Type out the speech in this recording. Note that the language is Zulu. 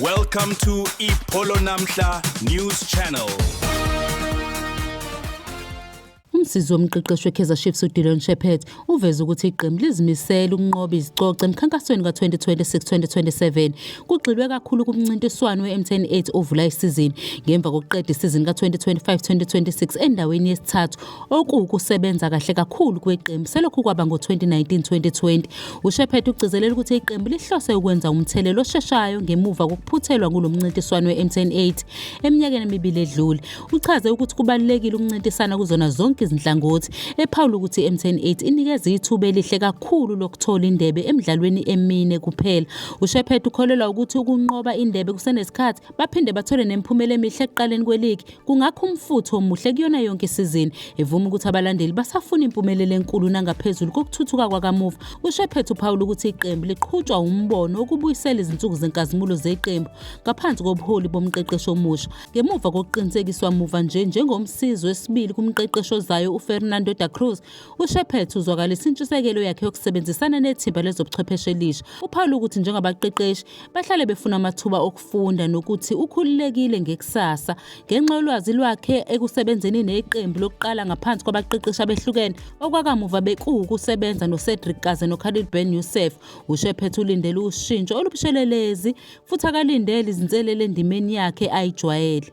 Welcome to Ipolo Namhla News Channel. Umsizi womqeqeshi weKaizer Chiefs uDillon Shepherd uveze ukuthi iqembu lizimisele ukunqoba izicoco emkhankasweni ka-2026-2027 kugxilwe kakhulu kumncintiswano we-MTN 8 ovula isizini ngemva kokuqeda isizini ka-2025-2026 endaweni yesithathu okuwukusebenza kahle kakhulu kweqembu selokhu kwaba ngo-2019-2020. UShephet ugcizelela ukuthi iqembu lihlose ukwenza umthelelo osheshayo ngemuva kokuphuthelwa kulo mncintiswano we-MTN 8 eminyakeni emibili edlule. Uchaze ukuthi kubalulekile ukuncintisana kuzona zonke izinhlangothi, ephawula ukuthi i-MTN 8 inikeza ithuba elihle kakhulu lokuthola indebe emidlalweni emine kuphela. UShephet ukholelwa ukuthi ukunqoba indebe kusenesikhathi baphinde bathole nemiphumela emihle ekuqaleni kweligi kungakho umfutho omuhle kuyona yonke isizini evuma ukuthi abalandeli basafuna impumelelo enkulu nangaphezulu kokuthuthuka kwakamuva usho ephethe uphawula ukuthi iqembu liqhutshwa umbono wokubuyisela izinsuku zenkazimulo zeqembu ngaphansi kobuholi bomqeqeshi omusha ngemuva kokuqinisekiswa muva nje njengomsizi wesibili kumqeqeshi ozayo ufernando da cruz ushephethe uzwakalisa intshisekelo yakhe yokusebenzisana nethimba lezobuchwepheshe elisha uphawula ukuthi njengabaqeqeshi bahlale befuna amathuba ukufunda nokuthi ukhululekile ngekusasa ngenxa yolwazi lwakhe ekusebenzeni neqembu lokuqala ngaphansi kwabaqeqeshi abehlukene okwakamuva bekuwukusebenza noCedric Kaze noKhalid Ben Youssef usho ephethe ulindele ushintsho olubushelelezi futhi akalindele izinselele endimeni yakhe ayijwayele